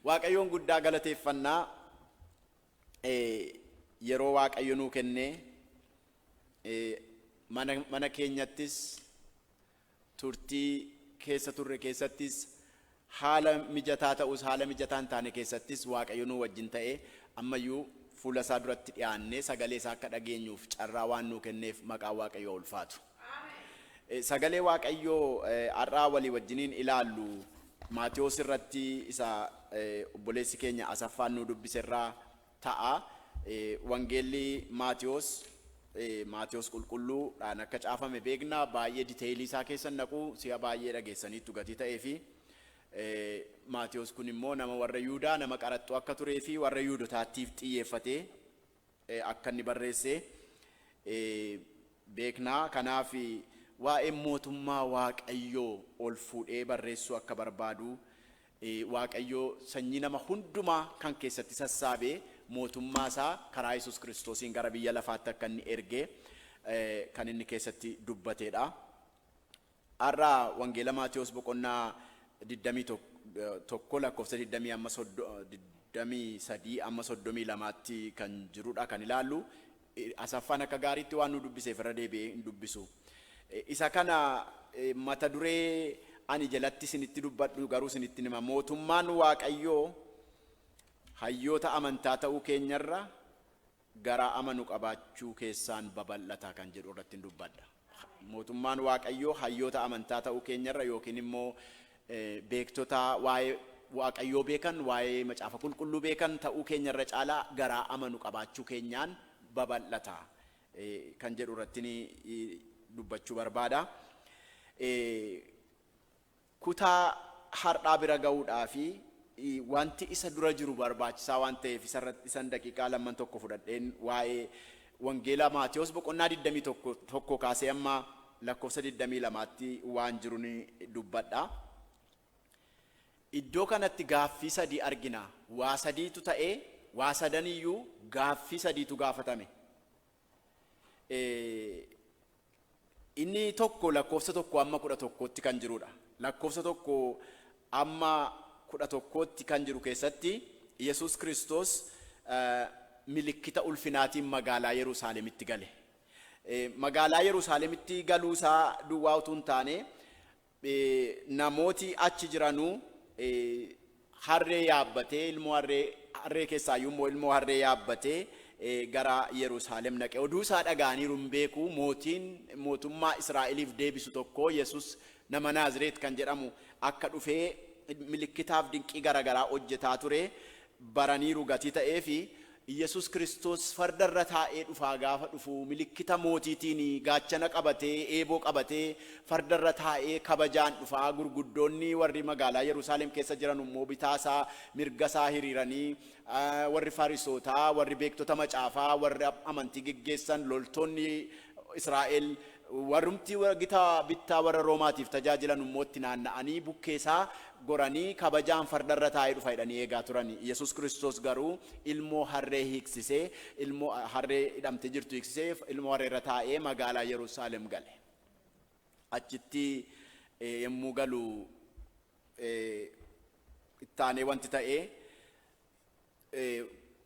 Waaqayyoon guddaa galateeffannaa yeroo Waaqayyo nuu kennee mana mana keenyattis turtii keessa turre keessattis haala mijataa ta'us haala mijataa hin taane keessattis Waaqayyo nuu wajjin ta'ee ammayyuu fuula isaa duratti dhiyaannee sagalee isaa akka dhageenyuuf carraa waan nuu kenneef maqaa Waaqayyoo ulfaatu. Sagalee Waaqayyoo har'aa walii wajjiniin ilaallu Maatewos irratti isa obboleessi keenya Asaffaan nuu dubbise irraa ta'a. Wangeelli Maatewos Maatewos qulqulluu dhaan akka caafame beekna. Baay'ee diteeyilii isaa keessa hin dhaqu. Si'a baay'ee dhageessaniittu gatii ta'ee fi Maatewos kun immoo nama warra Yuudaa nama qaraxxuu akka turee fi warra Yuudotaattiif xiyyeeffatee akka inni barreesse beekna. Kanaaf waa'ee Mootummaa Waaqayyoo ol fuudhee barreessuu akka barbaadu, Waaqayyo sanyii nama hundumaa kan keessatti sassaabe Mootummaa isaa karaa Yesuus Kiristoosiin gara biyya lafaatti akka inni erge kan inni keessatti dubbatee dha. Har'a Wangeela Maatewos boqonnaa 21 lakkoofsa 20-23 tti kan jirudha kan ilaallu. Asaffaan akka gaariitti waan nuu dubbiseef irra deebi'ee hin dubbisu. Isa kana mata duree ani jalatti isinitti dubbadhu garuu isinittin hima. Mootummaan Waaqayyoo hayyoota amantaa ta'uu keenyarra garaa amanu qabaachuu keessaan babal'ata kan jedhu irratti in dubbadha. Mootummaan Waaqayyoo hayyoota amantaa ta'uu keenya irra yookiin immoo beektota waa'ee Waaqayyoo beekan, waa'ee macaafa qulqulluu beekan ta'uu keenya irra caalaa garaa amanu qabaachuu keenyaan babal'ata kan jedhu irratti dubbachuu barbaada. Kutaa har'aa bira ga'uudhaaf wanti isa dura jiru barbaachisaa waan ta'eef isa irratti isan daqiiqaa lamman tokko fudhadheen waa'ee wangeela Maatewos boqonnaa 21 tokkoo kaasee amma lakkoofsa 22tti waan jirun dubbadha. Iddoo kanatti gaaffii sadii argina. Waa sadiitu ta'ee waa sadan iyyuu gaaffii sadiitu gaafatame. Inni tokko lakkoofsa 1 amma 11tti kan jiruudha. Lakkoofsa 1 amma 11tti kan jiru keessatti Yesuus Kiristoos milikkita ulfinaatiin magaalaa Yerusaalemitti gale. Magaalaa Yerusaalemitti galuu isaa duwwaa utuu hin taane Namooti achi jiranu harree yaabbatee, ilmoo harree, harree keessaayyuu immoo ilmoo harree yaabbatee gara Yerusaalem dhaqe. Oduu isaa dhaga'aniiru hin beeku. Mootiin mootummaa Israa'eliif deebisu tokko Yesus nama Naazireet kan jedhamu akka dhufee milikkitaaf dinqii gara garaa hojjetaa ture baraniiru gatii ta'eefi. Iyyasuus Kiristoos farda irra taa'ee dhufaa gaafa dhufu milikkita mootiitiin gaachana qabatee eeboo qabatee farda irra taa'ee kabajaan dhufa gurguddoonni warri magaalaa Yerusaalem keessa jiranu immoo bitaa isaa mirga isaa hiriiranii warri Farisootaa warri beektota macaafaa warri amantii geggeessan loltoonni Israa'el Warrumti gita bittaa warra Roomaatiif tajaajilanu immoo itti naanna'anii bukkee isaa goranii kabajaan farda irra taa'ee dhufa jedhanii eegaa turani. Yesuus Kiristoos garuu ilmoo harree hiiksisee, ilmoo harree hidhamtee jirtu hiiksisee, ilmoo harree irra taa'ee magaalaa Yerusaalem gale. Achitti yommuu galu itti aanee wanti ta'e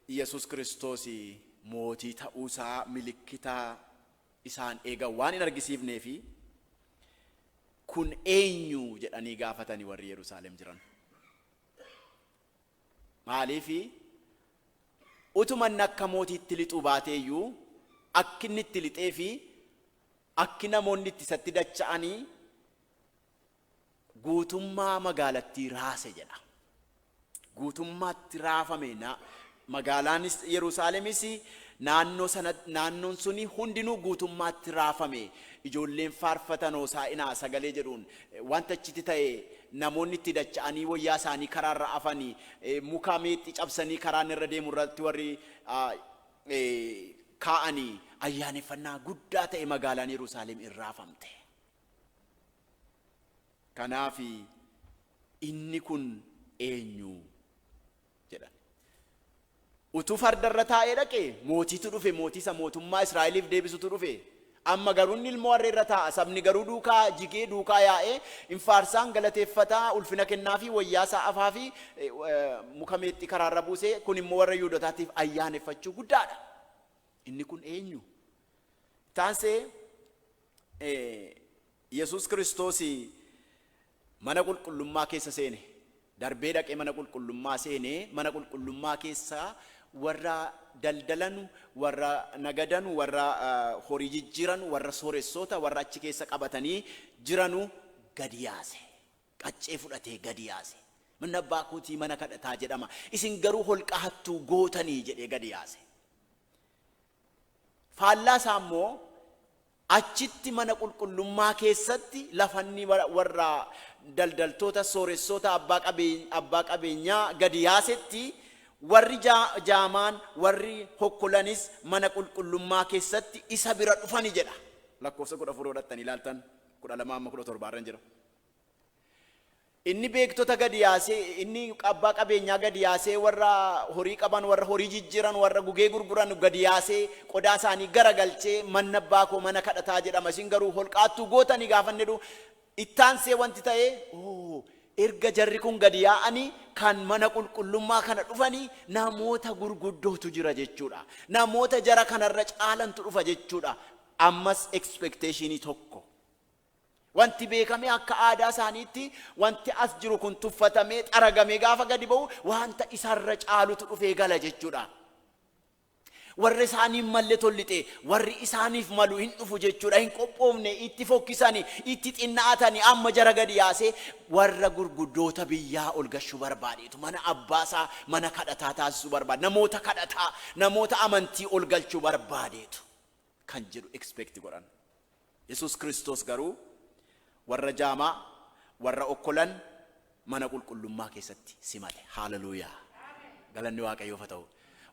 Yesuus Kiristoos mootii ta'uu isaa milikkita isaan eega waan hin argisiifnee fi kun eenyu jedhanii gaafatani warri Yerusaalem jiran. Maaliif utuma inni akka mootiitti lixuu baatee iyyuu akki inni itti lixee fi akki namoonni itti isatti dacha'anii guutummaa magaalattii raase jedha. Guutummaatti raafame, na, magaalaanis Yerusaalemis naannoo sana, naannoon suni hundinuu guutummaatti raafame. Ijoolleen faarfatan Hoosaa'inaa sagalee jedhuun eh, wanta achitti ta'e namoonni itti dacha'anii wayyaa isaanii karaa irra afani, eh, muka meexxii cabsanii karaan irra deemu irratti warri ah, eh, kaa'anii ayyaaneffannaa guddaa ta'e magaalaan Yerusaalem in raafamte. Kanaaf Inni kun eenyu? jedhan. Utuu farda irra taa'ee dhaqe, mootiitu dhufe, mootii isa mootummaa Israa'eliif deebisutu dhufe. Amma garuu inni ilmoo harree irra taa'a, sabni garuu duukaa jigee, duukaa yaa'ee, in faarsaa, in galateeffata, ulfina kennaafii, wayyaa isaa afaafii, eh, eh, muka meexxii karaa irra buusee, kun immoo warra Yihudotaatiif ayyaaneffachuu guddaadha. Inni kun eenyu? Taansee Yesuus Kiristoos mana qulqullummaa keessa seene. Darbee dhaqee mana qulqullummaa seene. Mana qulqullummaa keessa warra daldalanu, warra nagadanu, warra horii jijjiiranu, warra sooressoota, warra achi keessa qabatanii jiranu gadi yaase. Qaccee fudhatee gadi yaase. Manni abbaa kootii mana kadhataa jedhama. Isin garuu holqa hattuu gootanii jedhee gadi yaase. Faallaa isaa immoo, achitti mana qulqullummaa keessatti lafanni warra daldaltoota, sooressoota, abbaa qabeenyaa gadi yaasetti, warri jaamaan, warri hokkolanis mana qulqullummaa keessatti isa bira dhufani jedha. Lakkoofsa 14 yoo dhaqxanii ilaaltan, 12-17 irran jira. Inni beektota gad yaasee, inni abbaa qabeenyaa gad yaasee, warra horii qaban, warra horii jijjiiran, warra gugee gurguran gad yaasee, qodaa isaanii garagalchee, Manni Abbaa koo mana kadhataa jedhama, isin garuu holqaattuu gootani gaafa inni jedhu, itti aansee wanti ta'e, Oo, erga jarri kun gad yaa'anii, kan mana qulqullummaa kana dhufanii, namoota gurguddootu jira jechuu dha. Namoota jara kana irra caalantu dhufa jechuu dha. Ammas expectation tokko. Wanti beekamee akka aadaa isaaniitti wanti as jiru kun tuffatamee xaragamee gaafa gadi ba'u wanta isarra caalutu dhufee gala jechuudha. Warra isaanii hin malle tollixee warri isaaniif malu hin dhufu jechuudha. Hin qophoofne itti fokkisani itti xinna'atani amma jara gadi yaasee warra gurguddoota biyyaa ol gashuu barbaadeetu mana abbaasaa mana kadhataa taasisuu barbaade namoota kadhataa namoota amantii ol galchuu barbaadeetu. kan jedhu expect godhan. Yesuus Kiristoos garuu warra jaamaa, warra okkolan mana qulqullummaa keessatti simate. Hallelujah! Galanni Waaqayyoof haa ta'u.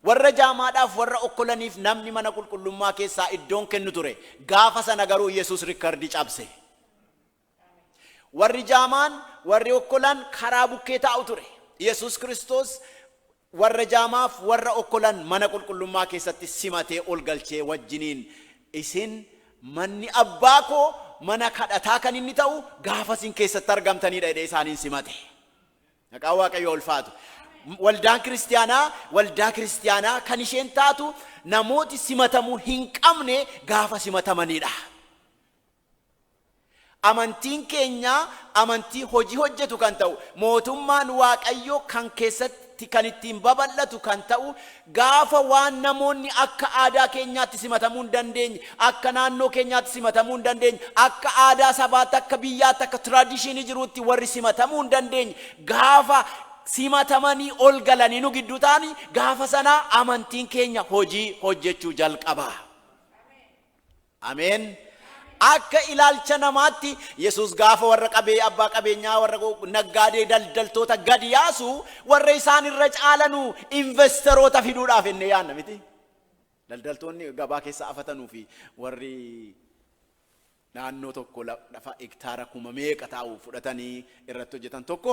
Warra jaamaadhaaf, warra okkolaniif namni mana qulqullummaa keessaa iddoon kennu ture. Gaafa sana garuu Yesuus rikkardii cabse. Warri jaamaan, warri okkolan karaa bukkee taa'u ture. Yesuus Kiristoos warra jaamaaf warra okkolan mana qulqullummaa keessatti simatee ol galchee wajjiniin isin manni abbaa koo mana kadhataa kan inni ta'u gaafa isin keessatti argamtaniidha jedhee isaaniin simate. Maqaan Waaqayyoo ulfaatu. Waldaan kiristiyaanaa waldaa kiristiyaanaa kan isheen taatu namooti simatamuu hin qabne gaafa simatamaniidha. Amantiin keenya amantii hojii hojjetu kan ta'u, mootummaan Waaqayyoo kan keessatti kan ittiin babal'atu kan ta'u, gaafa waan namoonni akka aadaa keenyaatti simatamuu hin dandeenye, akka naannoo keenyaatti simatamuu hin dandeenye, akka aadaa sabaatti, akka biyyaatti, akka tradition jiruutti warri simatamuu hin dandeenye gaafa simatamanii ol galanii nu gidduu ta'ani, gaafa sana amantiin keenya hojii hojjechuu jalqaba. Ameen! Akka ilaalcha namaatti, Yesuus gaafa warra qabee, abbaa qabeenyaa, warra naggaadee, daldaltoota gad yaasu, warra isaan irra caalanu investeroota fiduudhaaf jennee yaadna miti? Daldaltoonni gabaa keessa afatanuu fi warri naannoo tokko lafa hektaara kuma meeqa taa'u fudhatanii irratti hojjetan tokko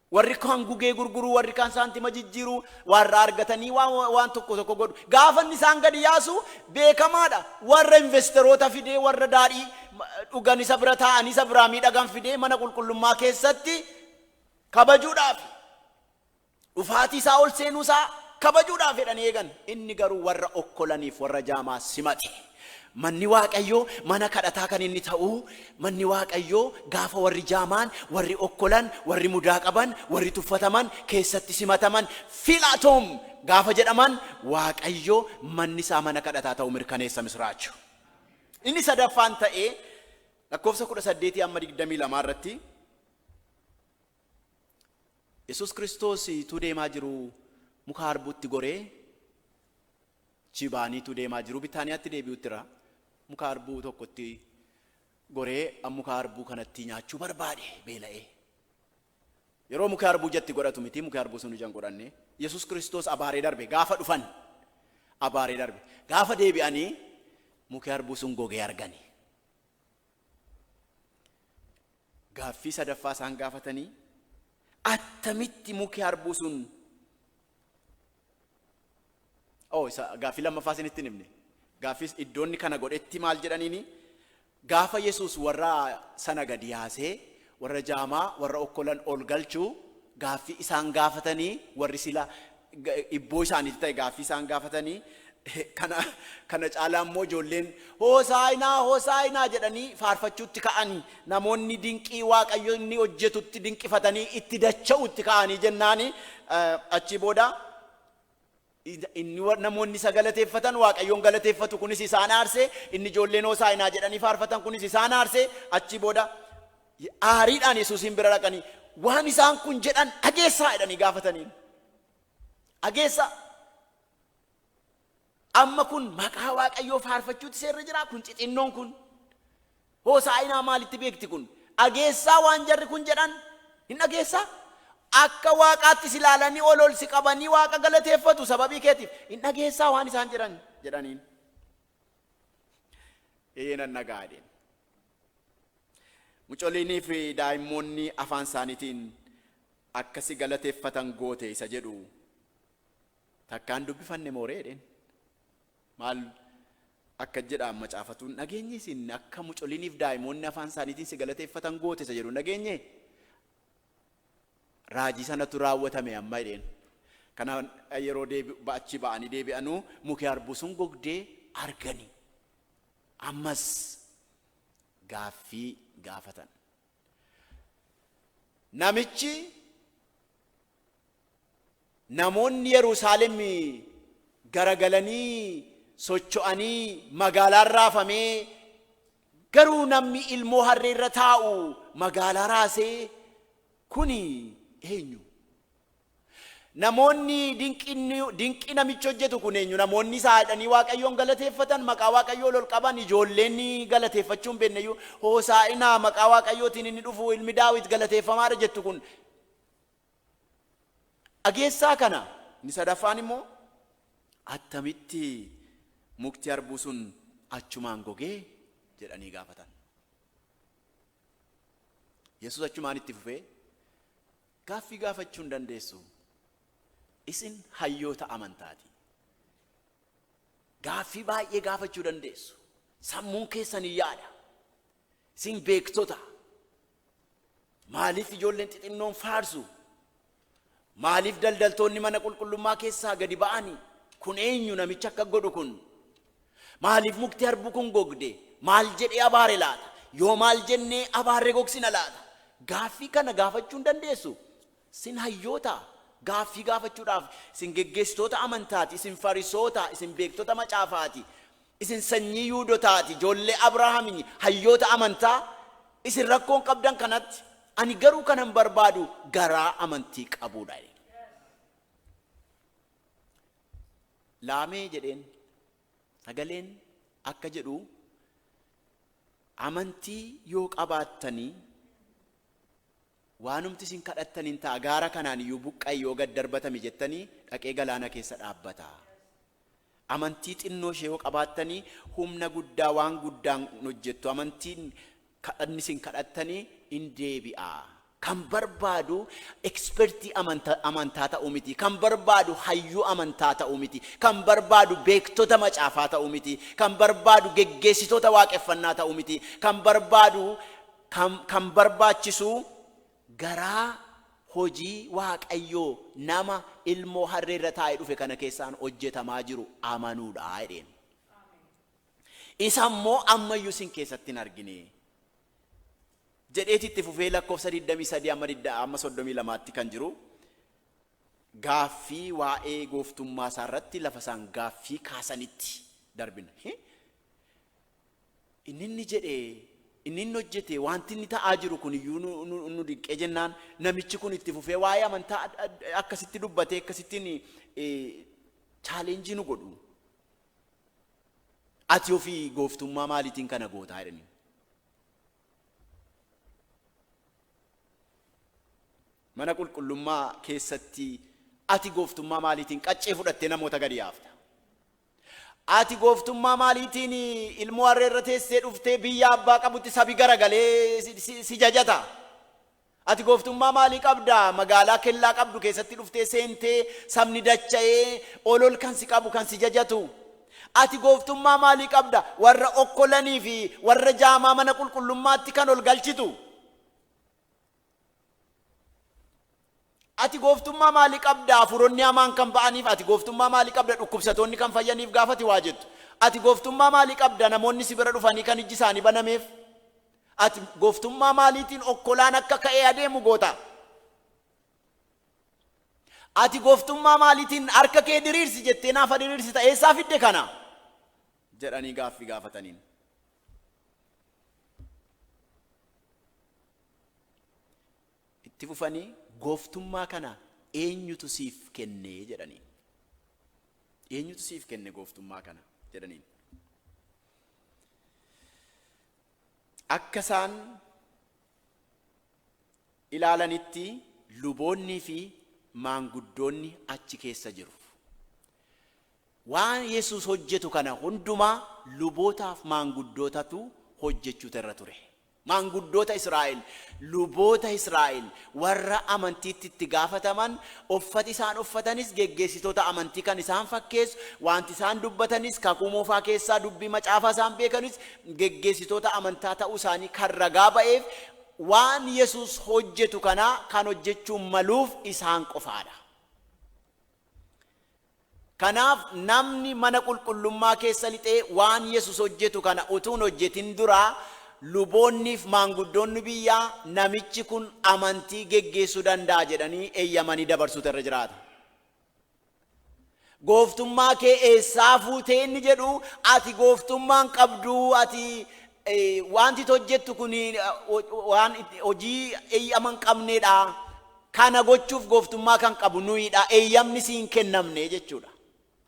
Warri kaan gugee gurguru, warri kaan saantima jijjiiru, warra argatanii waan waan tokko tokko godhu. Gaafa inni isaan gadi yaasu beekamaadha. Warra investeroota fidee, warra daadhii ma- dhugan isa bira taa'anii isa biraa miidhagan fidee mana qulqullummaa keessatti kabajuudhaafi. Dhufaatii isaa ol seenuu isaa kabajuudhaaf jedhanii eegan. Inni garuu warra okkolaniif warra jaamaa simate. Manni Waaqayyoo mana kadhataa kan inni ta'u, manni Waaqayyoo gaafa warri jaamaan, warri okkolan, warri mudaa qaban, warri tuffataman keessatti simataman, Philatum! gaafa jedhaman, Waaqayyo manni isaa mana kadhataa ta'uu mirkaneessa misraacho. Inni sadaffaan ta'ee lakkoofsa 18-22 irratti Yesuus Kiristoos utuu deemaa jiru muka harbuutti goree Achi ba'anii utuu deemaa jiruu Bitaaniyaatti deebi'uttira muka harbuu tokkotti goree an muka harbuu kanatti nyaachuu barbaade beela'ee. Yeroo muki harbuu ijatti godhatu miti muki harbuu sun ija hin godhanne. Yesus Kiristoos abaaree darbe gaafa dhufan abaaree darbe gaafa deebi'anii muki harbuu sun gogee argani. Gaaffii sadaffaa isaan gaafatanii attamitti muki harbuu sun Oh, isa gaaffii lammaffaa isinitti hin himne. Gaaffiis iddoonni kana godhetti maal jedhaniini? Gaafa Yesuus warra sana gadi yaasee, warra jaamaa, warra okkolan ol galchu, gaaffii isaan gaafatanii, warri sila ga- ibboo isaaniitu ta'e gaaffii isaan gaafatanii, Kana kana caalaa immoo ijoolleen Hoosaa'inaa Hoosaa'inaa jedhanii faarfachuutti ka'ani. Namoonni dinqii Waaqayyo inni hojjetutti dinqifatanii itti dacha'uutti ka'anii jennaani achii booda inni wa- namoonni isa galateeffatan Waaqayyoon galateeffatu kunis isaan aarse inni ijoolleen Hoosaa'inaa jedhanii faarfatan kunis isaan aarse achii booda aariidhaan Yesuusiin bira dhaqanii waan isaan kun jedhan dhageessaa jedhanii gaafataniin. Dhageessaa Amma kun maqaa Waaqayyoo faarfachuutti seerri jira kun xixinnoon kun. Hoosaa'inaa maalitti beekti kun? Dhageessaa waan jarri kun jedhan hin dhageessaa? Akka waaqaattis ilaalanii ol ol si qabanii waaqa galateeffatu sababii keetiif hin dhageessaa waan isaan jedhan jedhaniin. Ee nan dhaga'a jedheen. Mucoliinii fi daa'immoonni afaan isaaniitiin akka si galateeffatan goote isa jedhu Takkaan dubbifanne moo ree jedheen. Maal akka jedhaan macaafatu hin dhageenye isin akka mucoliniif daa'imoonni afaan isaaniitiin si galateeffatan goote isa jedhu hin dhageenye. Raajii sanatu raawwatame amma jedheen. Kana yeroo deebi achi ba'anii deebi'anuu muki harbuu sun gogdee arganii. Ammas gaaffii gaafatan. Namichi namoonni Yerusaalem garagalanii socho'anii magaalaan raafamee garuu namni ilmoo harree irra taa'u magaalaa raasee kuni eenyu? Namoonni dinqii namichi hojjetu kun eenyu? Namoonni isaa jedhanii Waaqayyoon galateeffatan, maqaa Waaqayyoo ol qaban, ijoolleen galateeffachuu hin beekne iyyuu hoosaa'inaa maqaa Waaqayyootiin inni dhufu ilmi Daawit galateeffamaadha jettu kun dhageessaa kana. Inni sadaffaan immoo attamitti mukti harbuu sun achumaan gogee jedhanii gaafatan. Yesus achumaan itti fufee Gaaffii gaafachuu hin dandeessuu? Isin hayyoota amantaati. Gaaffii baay'ee gaafachuu dandeessu. Sammuun keessan hin yaada. Isin beektota. Maaliif ijoolleen xixinnoon faarsu? Maaliif daldaltoonni mana qulqullummaa keessaa gadi ba'ani? Kun eenyu namichi akka godhu kun? Maaliif mukti harbuu kun gogde? Maal jedhee abaare laata? Yoo maal jennee abaarre gogsina laata? Gaaffii kana gaafachuu hin dandeessu. Sin hayyoota. Gaaffii gaafachuudhaaf isin geggeessitoota amantaati, isin Farisoota, isin beektota macaafaati, isin sanyii Yuudotaati, ijoollee Abrahaamini, hayyoota amantaa. Isin rakkoon qabdan kanatti. Ani garuu kanan barbaadu garaa amantii qabuudha. Laamee jedheen. Sagaleen akka jedhu amantii yoo qabaattanii waanumti isin kadhattan in ta'a gaara kanaan iyyuu buqqa'i yoo gad darbatami jettanii dhaqee galaana keessa dhaabbata. Amantii xinnoo ishee yoo qabaattanii humna guddaa waan guddaan hojjettu amantiin Kadhanni isin kadhattani in deebi'aa. Kan barbaadu ekspertii amanta, amantaa ta'uu miti. Kan barbaadu hayyuu amantaa ta'uu miti. Kan barbaadu beektota macaafaa ta'uu miti. Kan barbaadu geggeessitoota waaqeffannaa ta'uu miti. Kan barbaadu kan, kan barbaachisu garaa hojii Waaqayyoo nama ilmoo harree irra taa'ee dhufe kana keessaan hojjetamaa jiru amanuudha jedheen. Isa immoo amma iyyuu isin keessatti hin argine. Jedheeti itti fufee lakkoofsa 23 amma 32tti kan jiru gaaffii waa'ee gooftummaa isaa irratti lafa isaan gaaffii kaasanitti darbina. Inni inni jedhe inni inni hojjete wanti inni ta'aa jiru kun iyyuu nu dinqee jennaan namichi kun itti fufee waa'ee amantaa akkasitti dubbatee akkasittiin chaaleenjii nu godhu. Ati ofii gooftummaa maaliitiin kana gootaa jedhaniin. Mana qulqullummaa keessatti ati gooftummaa maaliitiin qaccee fudhattee namoota gadi yaafta. Ati gooftummaa maaliitiin ilmoo harree irra teessee dhuftee biyya abbaa qabutti sabi garagalee si- si- si jajata. Ati gooftummaa maalii qabda? Magaalaa kellaa qabdu keessatti dhuftee seentee sabni dacha'ee ol ol kan si qabu, kan si jajatu. Ati gooftummaa maalii qabda? Warra okkolanii fi warra jaamaa mana qulqullummaatti kan ol galchitu. Ati gooftummaa maalii qabda? Hafuuronni hamaan kan ba'aniif ati gooftummaa maalii qabda? Dhukkubsatoonni kan fayyaniif gaafa ati waa jettu. Ati gooftummaa maalii qabda? Namoonni si bira dhufanii kan ijji isaanii banameef. Ati gooftummaa maaliitiin okkolaan akka ka'ee adeemu goota? Ati gooftummaa maaliitiin harka kee diriirsi jettee naafa diriirsita eessaa fidde kana? jedhanii gaaffii gaafataniin. Itti fufanii gooftummaa kana eenyutu siif kenne jedhaniin. Eenyutu siif kenne gooftummaa kana jedhaniin. Akka isaan ilaalanitti luboonnii fi maanguddoonni achi keessa jiru. Waan Yesuus hojjetu kana hundumaa lubootaaf maanguddootatu hojjechuuta irra ture. Maanguddoota Israa'el, luboota Israa'el, Warra amantiitti itti gaafataman, uffati isaan uffatanis geggeessitoota amantii kan isaan fakkeessu, waanti isaan dubbatanis, Kakuu Moofaa keessaa dubbii macaafaa isaan beekanis geggeessitoota amantaa ta'uu isaanii kan ragaa ba'eef waan Yesuus hojjetu kana kan hojjechuu maluuf isaan qofaa dha. Kanaaf namni mana qulqullummaa keessa lixee waan Yesus hojjetu kana utuu hin hojjetin dura, luboonniif maanguddoonni biyyaa namichi kun amantii geggeessu danda'a jedhanii eyyamanii dabarsuutu irra jiraata. Gooftummaa kee eessaa fuutee inni jedhu ati gooftummaa hin qabduu ati Wanti ati hojjettu kun waan hojii eeyyama hin qabnee dha. Kana gochuuf gooftummaa kan qabu nuyi dha, eeyyamni si hin kennamne jechuu dha.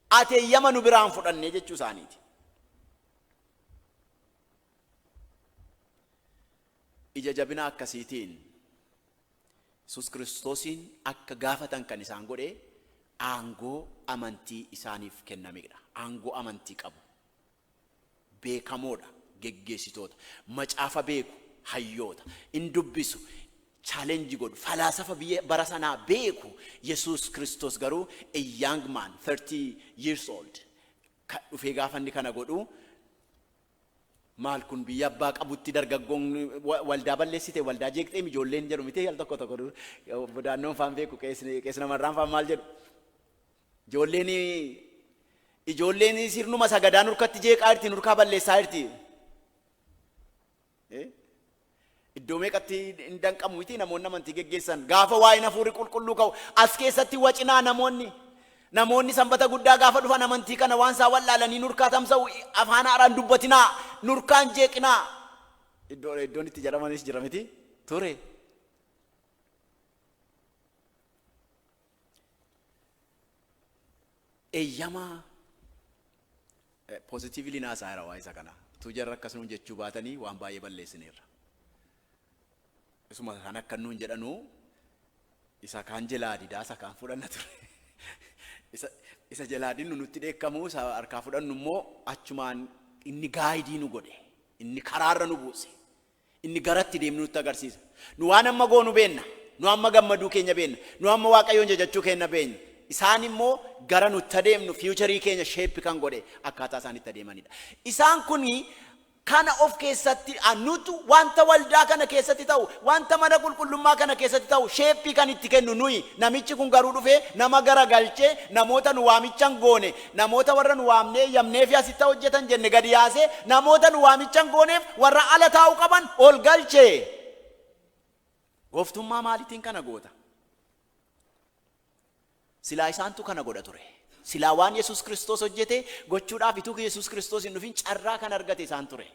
Ati eeyyama nu biraa hin fudhanne jechuu isaanii ti. Ija jabina akkasiitiin Yesuus Kiristoosiin akka gaafatan kan isaan godhe aangoo amantii isaaniif kennamee dha. Aangoo amantii qabu. beekamoo dha, geggeessitoota, macaafa beeku, hayyoota, in dubbisu, challenge godhu, falaasafa biyya bara sanaa beeku, Yesuus Kiristoos garuu a young man, 30 years old, ka dhufee gaafa inni kana godhu, maal kun biyya abbaa qabutti dargaggoon wa- waldaa balleessite, waldaa jeeqxee ijoolleen jedhu miti al tokko tokko dur- bodaannoon faan beeku, qeesni- qeesni namarraan faan maal jedhu. Ijoolleen ijoolleen sirnuma sagadaa nurkatti jeeqaa jirti nurkaa balleessaa jirti. Iddoo meeqatti hin danqamu miti namoonni amantii geggeessan gaafa waa'een hafuurri qulqulluu ka'u as keessatti wacinaa namoonni namoonni sanbata guddaa gaafa dhufan amantii kana waan isaa wal'aalanii nurkaa tamsa'u afaan haaraan dubbatinaa nurkaan jeeqinaa iddoo iddoon itti jedhamanis jira miti ture. Eeyyama positively naa saayira waa isa kana. Utuu jarri akkas nuun jechuu baatanii waan baay'ee balleessineerra. Isuma kan akka nuun jedhanuu isa kaan jelaa didaa isa kaan fudhanna ture. Isa isa jelaa dinnu nutti dheekkamuu isa harkaa fudhannu immoo achumaan inni gaayidii nu godhe. Inni karaarra nu buuse. Inni garatti deemnu nutti agarsiisa. Nu waan amma goonu beenna. Nu amma gammaduu keenya beenna. Nu amma Waaqayyoon jajachuu keenna beenya. Isaan immoo gara nutti adeemnu, future keenya shape kan godhe akkaataa isaan itti adeemanidha. Isaan kun kana of keessatti nutu wanta waldaa kana keessatti ta'u, wanta mana qulqullummaa kana keessatti ta'u shape kan itti kennu nuyi. Namichi kun garuu dhufee nama garagalchee namoota nu waamicha hin goone Namoota warra nu waamnee eeyyamneefi asitti haa hojjetan jenne gadi yaasee, namoota nu waamicha hin gooneef warra ala taa'uu qaban ol galche. Gooftummaa maaliitiin kana goota? Silaa isaantu kana godha ture. Silaa waan Yesuus Kiristoos hojjete gochuudhaaf utuu Yesuus Kiristoos hin dhufin carraa kan argate isaan ture.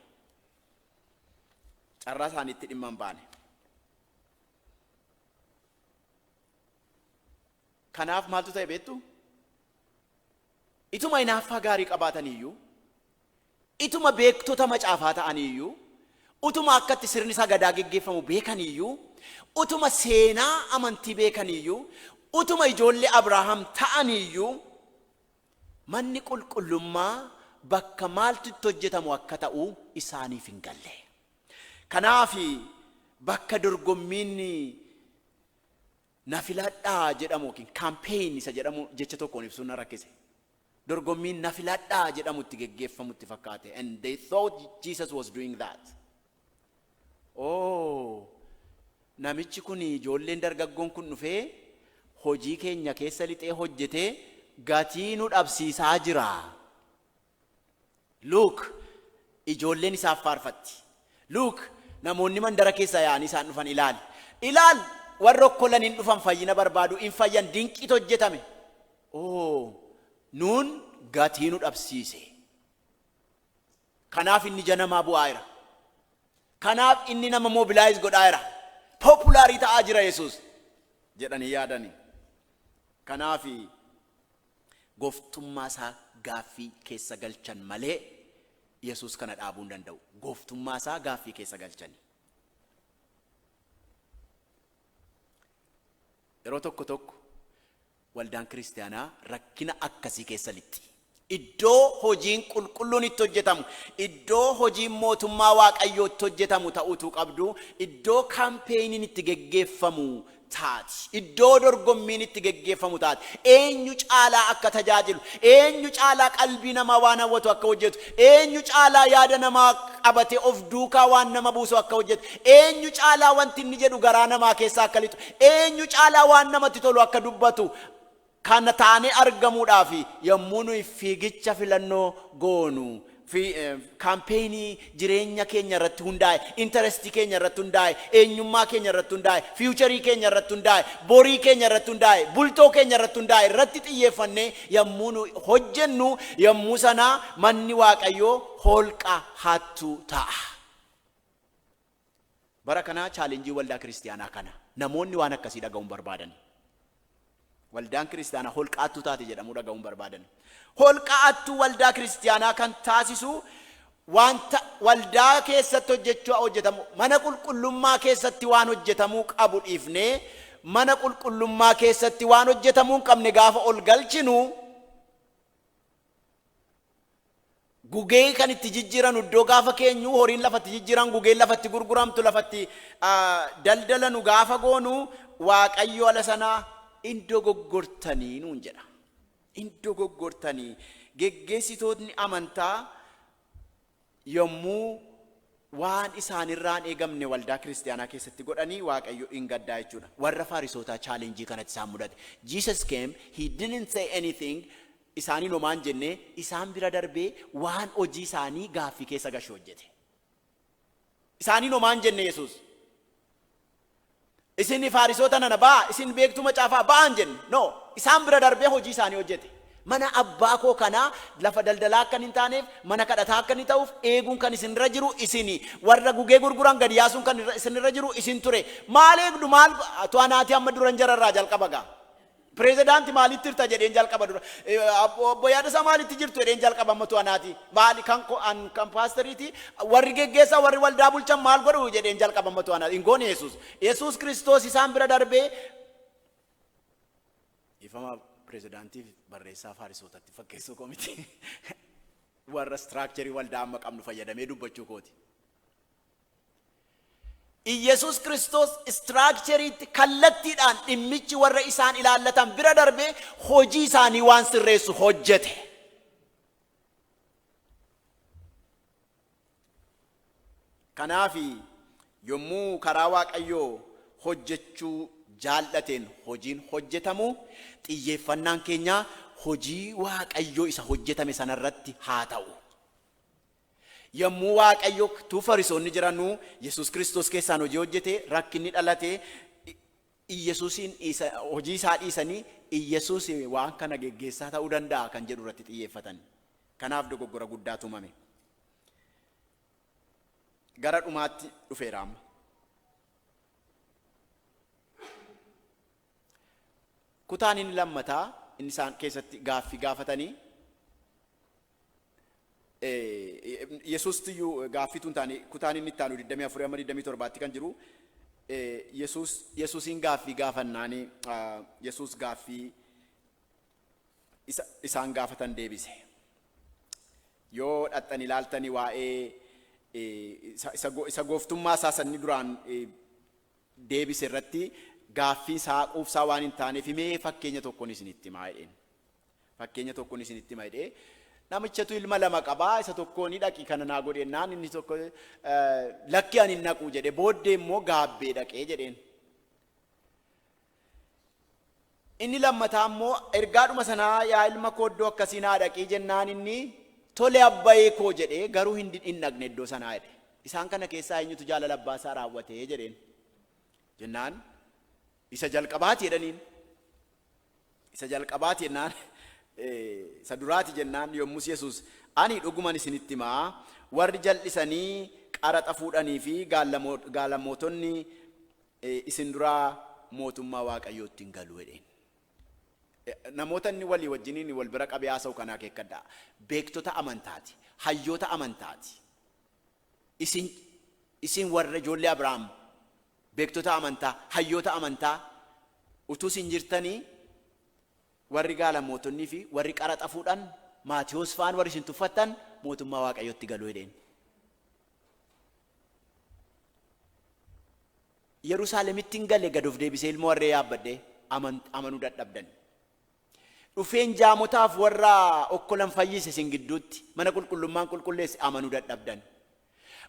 Carraa isaaniitti dhimma hin baane. Kanaaf maaltu ta'e beektu? Ituma hinaaffaa gaarii qabaataniiyyuu, ituma beektota macaafaa ta'aniiyyuu, utuma akka itti sirni sagadaa geggeeffamu beekaniiyyuu, utuma seenaa amantii beekaniiyyuu, utuma ijoollee Abrahaam ta'aniiyyuu, manni qulqullummaa bakka maaltu itti hojjetamu akka ta'u isaaniif hin galle. Kanaaf bakka dorgommiin Na filadhaa jedhamu ykn campaign isa jedhamu jecha tokkoon ibsuun na rakkise. Dorgommiin na filadhaa jedhamu itti geggeeffamu itti fakkaate and they thought Jesus was doing that. Ooh! Namichi kun ijoolleen dargaggoon kun dhufee hojii keenya keessa lixee hojjetee gatii nu dhabsiisaa jira. Luuk, Ijoolleen isaaf faarfatti. Luuk, Namoonni mandara keessaa yaa'anii isaan dhufan ilaali. Ilaal! Warri okkolan in dhufan, fayyina barbaadu, in fayyan, dinqiitu hojjetame. Oo, nuun gatii nu dhabsiise. Kanaaf inni ija namaa bu'aa jira. Kanaaf inni nama mobilaayiz godhaa jira. Populaarii ta'aa jira Yesuus jedhanii yaadani. Kanaaf Gooftummaa isaa gaaffii keessa galchan malee Yesuus kana dhaabuu hin danda'u. Gooftummaa isaa gaaffii keessa galchani. Yeroo tokko tokko waldaan kiristaanaa rakkina akkasii keessa lixxi. Iddoo hojiin qulqulluun itti hojjetamu, iddoo hojiin mootummaa Waaqayyoo itti hojjetamu ta'uutuu qabdu, iddoo kaampeenin itti geggeeffamu taati. Iddoo dorgommiin itti geggeeffamu taati. Eenyu caalaa akka tajaajilu, eenyu caalaa qalbii namaa waan hawwatu akka hojjetu, eenyu caalaa yaada namaa qabatee of duukaa waan nama buusu akka hojjetu, eenyu caalaa wanti inni jedhu garaa namaa keessa akka lixu, eenyu caalaa waan namatti tolu akka dubbatu, Kana taanee argamuudhaaf yommuu nuyi fiigicha filannoo goonu, kaampeenii jireenya keenya irratti hundaa'e, interest keenya irratti hundaa'e, eenyummaa keenya irratti hundaa'e, future keenya irratti hundaa'e, borii keenya irratti hundaa'e, bultoo keenya irratti hundaa'e irratti xiyyeeffannee yommuu nuyi hojjennu yommuu sana manni Waaqayyoo holqa hattuu ta'a. Bara kanaa challenge waldaa kiristiyaanaa kana. Namoonni waan akkasii dhaga'uu hin barbaadani. Waldaan kiristaanaa holqa attuu taate jedhamuu dhaga'uu hin barbaadani. Holqa attuu waldaa kiristiyaanaa kan taasisu wanta waldaa keessatti hojjechuu hojjetamu mana qulqullummaa keessatti waan hojjetamuu qabu dhiifnee mana qulqullummaa keessatti waan hojjetamuu hin qabne gaafa ol galchinu Gugee kan itti jijjiiranu iddoo gaafa keenyu horiin lafa itti jijjiiran gugeen lafa itti gurguramtu lafa itti daldalanu gaafa goonu waaqayyo ala sana in dogoggortanii nuun jedha. In dogoggortanii geggeessitootni amantaa Yommuu waan isaan irraa hin eegamne waldaa kiristiyaanaa keessatti godhani Waaqayyo in gaddaa jechuudha. Warra Faarisootaa challenge kanatu isaan mudate. Jesus came, he didn't say anything, isaaniin homaa hin jenne, isaan bira darbee waan hojii isaanii gaaffii keessa gashu hojjete. Isaaniin homaa hin jenne Yesuus. Isin Faarisoota nana, ba'aa! Isin beektuu macaafaa, ba'aan jenne. No. Isaan bira darbee hojii isaanii hojjete. Mana Abbaa koo kanaa lafa daldalaa akkan hin taaneef, mana kadhataa akka inni ta'uuf eeguun kan isin irra jiru isini. Warra gugee gurguran gad yaasuun kan isin irra jiru isin ture. Maal eegdu? Maal? To'anaati amma duran jara irraa jalqaba gaa. Prezidaanti maalitti jirta jedheen jalqaba dura obbo Yaadasaa maalitti jirtu jedheen jalqaba ammatu anaati maali kan ko an kan paasteriiti warri geggeessaa warri waldaa bulchan maal godhu jedheen jalqaba ammatu anaati hin goone Yesuus Yesuus Kiristoos isaan bira darbee ifama prezidaantiif barreessaa faarisootatti fakkeessuu komiti warra istiraakcherii waldaa amma qabnu fayyadamee dubbachuu kooti. Iyyesuus Kiristoos istiraakcheriitti kallattiidhaan dhimmichi warra isaan ilaallatan bira darbee hojii isaanii waan sirreessu hojjete. Kanaaf yommuu karaa Waaqayyoo hojjechuu jaallateen hojiin hojjetamu xiyyeeffannaan keenya hojii Waaqayyoo isa hojjetame sanarratti haa ta'u. Yommuu Waaqayyo utuu Farisoonni jiranuu Yesuus Kiristoos keessaan hojii hojjete, rakkinni dhalate, Iyyasuusiin dhiisa, hojii isaa dhiisanii Iyyasuus waan kana geggeessaa ta'uu danda'a kan jedhu irratti xiyyeeffatan. Kanaaf dogoggora guddaa tumame. Gara dhumaatti dhufeera amma. Kutaan inni lammataa inni isaan keessatti gaaffii gaafatanii Yesuustu iyyuu gaaffiitu hin taane kutaan inni itti aanu 24 amma 27tti kan jiru Yesuus Yesuusiin gaaffii gaafannaani Yesuus gaaffii isaan gaafatan deebise. Yoo dhaxxan ilaaltani waa'ee isa gooftummaa isaa sanni duraan deebise irratti gaaffii saa quufsaa waan hin taaneef mee fakkeenya tokkon isinitti himaa jedheen. Fakkeenya tokkon isinitti hima jedhee namichatu ilma lama qabaa isa tokko ni dhaqi kana naa godhe naan inni tokko lakki ani hin dhaqu jedhe booddee immoo gaabbee dhaqee jedheen. Inni lammataa immoo ergaadhuma sana yaa ilma koo iddoo akkasii naa dhaqii jennaan inni tole abbayee koo jedhee garuu hin did- hin dhaqne iddoo sanaa jedhe. Isaan kana keessaa eenyutu jaalala abbaa isaa raawwatee jedheen. Jennaan isa jalqabaati jedhaniin. Isa jalqabaati jennaan eh, isa duraati jennaan yommus Yesuus ani dhuguman isinitti himaa warri jal'isanii qaraxa fuudhanii fi gaallamo- gaalamootonni isin duraa mootummaa Waaqayyootti hin galu jedheen. Namoota inni walii wajjiniin wal bira qabee haasa'u kana akeekkadhaa. Beektota amantaati. Hayyoota amantaati. Isin, isin warra ijoollee Abrahaam, beektota amantaa, hayyoota amantaa, utuu isin jirtanii warri gaalamootonnii fi warri qaraxa fuudhan Maatiyoos fa'aan warri isin tuffattan mootummaa Waaqayyootti galu jedheen. Yerusaalemittin gale gad of deebisee ilmoo harree yaabbadhee amanuu dadhabdan. Dhufeen jaamotaaf warra okkolan fayyise isin gidduutti mana qulqullummaan qulqulleesse amanuu dadhabdan.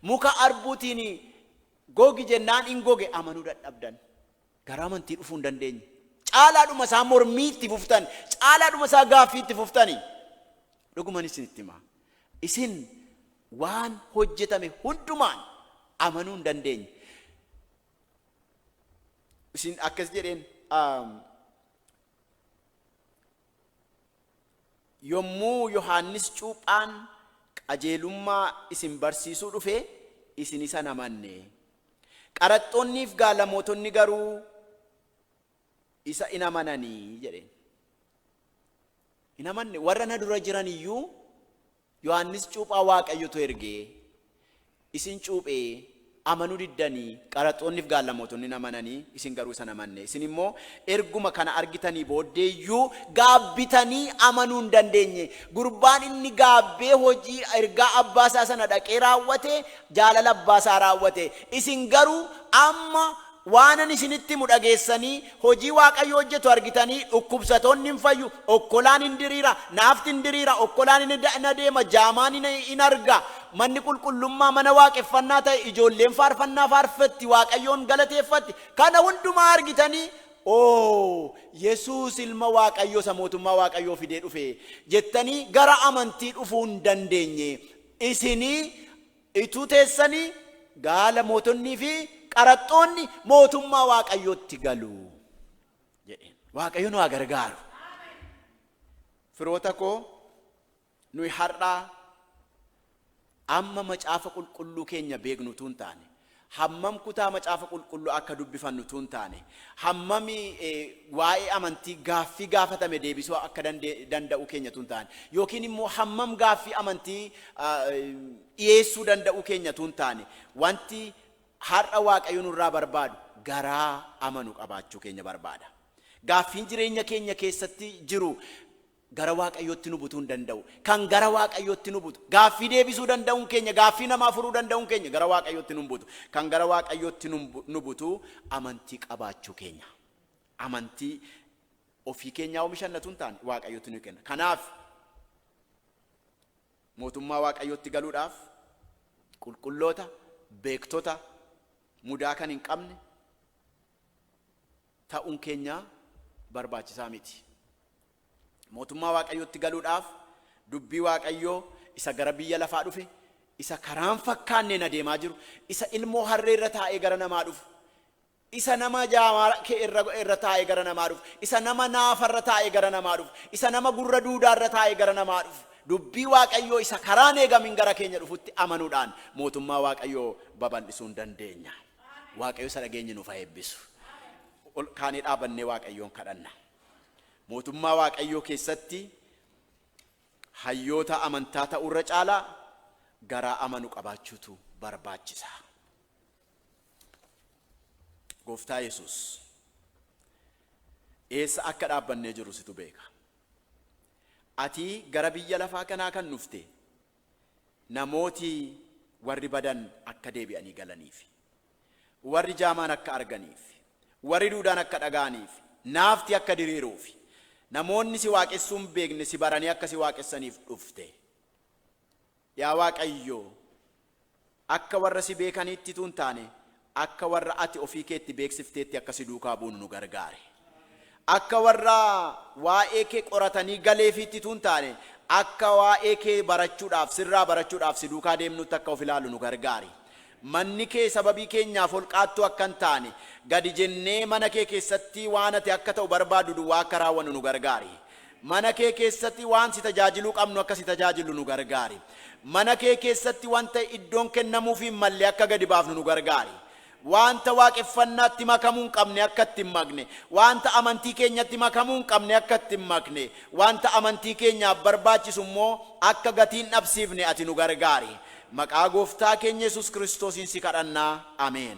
Muka arbuutiin gogi jennaan in goge amanuu dadhabdan. Gara amantii dhufuu hin dandeenye. Caalaadhuma isaa mormii itti fuftan, caalaadhuma isaa gaaffii itti fuftani. Dhuguman isinitti hima. Isin Waan hojjetame hundumaan amanuu hin dandeenye. Isin akkas jedheen um, yommuu Yohaannis cuuphaan qajeelummaa isin barsiisuu dhufe isin isa hin amanne. Qaraxxoonniif gaalamootonni garuu isa hin amananii jedheen. Hin amanne warra na dura jiran iyyuu Yohaannis cuuphaa Waaqayyotu ergee isin cuuphee amanuu diddanii qaraxxoonni fi gaallamootonni in amananii isin garuu isa hin amanne. Isin immoo erguma kana argitanii booddee iyyuu gaabbitanii amanuu hin dandeenye. Gurbaan inni gaabbee hojii ergaa abbaa isaa sana dhaqee raawwate jaalala abbaa isaa raawwate. Isin garuu amma Waanan isinitti himu dhageessanii, hojii Waaqayyo hojjetu argitanii, dhukkubsatoonni in fayyu, okkolaan in diriira, naafti in diriira, okkolaan in in adeema, jaamaan in in arga, manni qulqullummaa mana waaqeffannaa ta'e, ijoolleen faarfannaa faarfatti, Waaqayyoon galateeffatti, kana hundumaa argitanii, Oo, Yesuus Ilma Waaqayyoo isa Mootummaa Waaqayyoo fidee dhufe! jettanii gara amantii dhufuu hin dandeenye. Isinii Ituu teessanii gaala mootonnii fi qaraxxoonni mootummaa Waaqayyootti galu jedheen. Waaqayyo nu haa gargaaru. Firoota koo nuyi har'aa amma macaafa qulqulluu keenya beeknu utuu hin taane Hammam kutaa Macaafa Qulqulluu akka dubbifannu utuu hin taane, hammam waa'ee amantii gaaffii gaafatame deebisuu akka danda'uu keenya utuu hin taane, yookiin immoo hammam gaaffii amantii dhiyeessuu danda'uu keenya utuu hin taane, wanti har'a Waaqayyo nurraa barbaadu garaa amanu qabaachuu keenya barbaada. Gaaffiin jireenya keenya keessatti jiru Gara Waaqayyootti nu butuun danda'u, kan gara Waaqayyootti nu butu. Gaaffii deebisuu danda'uun keenya, gaaffii namaa furuu danda'uun keenya gara Waaqayyootti nun butu. Kan gara Waaqayyootti nun bu- nu butu amantii qabaachuu keenya. Amantii ofii keenyaa omishanna tun taane Waaqayyootti nu kenna. Kanaaf mootummaa Waaqayyootti galuudhaaf qulqulloota, beektota, mudaa kan hin qabne, ta'uun keenya barbaachisaa miti. Mootummaa Waaqayyootti galuudhaaf dubbii Waaqayyoo isa gara biyya lafaa dhufe, isa karaan fakkaanneen adeemaa jiru, isa ilmoo harree irra taa'ee gara namaa dhufu, isa nama jaamaa kee irra, irra taa'ee gara namaa dhufu, isa nama naafa irra taa'ee gara namaa dhufu, isa nama gurra duudaa irra taa'ee gara namaa dhufu, dubbii Waaqayyoo isa karaan eegamin gara keenya dhufutti amanuudhaan mootummaa Waaqayyoo babal'isuu hin dandeenyaa. Waaqayyo isa dhageenye nuuf haa eebbisu. Ol kaanee dhaabannee Waaqayyoon kadhanna. Mootummaa Waaqayyoo keessatti hayyoota amantaa ta'uu irra caalaa garaa amanu qabaachuutu barbaachisa. Gooftaa Yesuus eessa akka dhaabbannee jirru situ beeka. Ati gara biyya lafaa kanaa kan dhufte namooti warri badan akka deebi'anii galaniif, warri jaamaan akka arganiif, warri duudaan akka dhaga'aniif, naafti akka diriiruuf, namoonni si waaqessuu hin beekne si baranii akka si waaqessaniif dhufte. Yaa Waaqayyo, Akka warra si beekaniitti utuu hin taane, akka warra ati ofii kee itti beeksifteetti akka si duukaa buunu nu gargaari. Akka warra waa'ee kee qoratanii galeefiitti utuu hin taane, akka waa'ee kee barachuudhaaf, sirraa barachuudhaaf si duukaa deemnuutti akka of ilaallu nu gargaari. Manni kee sababii keenyaaf holqaattuu akka hin taane, gadi jennee mana kee keessatti waan ati akka ta'u barbaaddu duwwaa akka raawwannu nu gargaari. Mana kee keessati waan si tajaajiluu qabnu akka si tajaajillu nu gargaari. Mana kee keessatti wanta iddoon kennamuufii hin malle akka gadi baafnu nu gargaari. Wanta waaqeffannaatti makamuu hin qabne akka itti hin makne, wanta amantii keenyatti makamuu hin qabne akka itti hin makne, wanta amantii keenyaaf barbaachisu immoo akka gatii hin dhabsiifne ati nu gargaari. Maqaa Gooftaa keenya Yesuus Kiristoosiin si kadhanna. Ameen.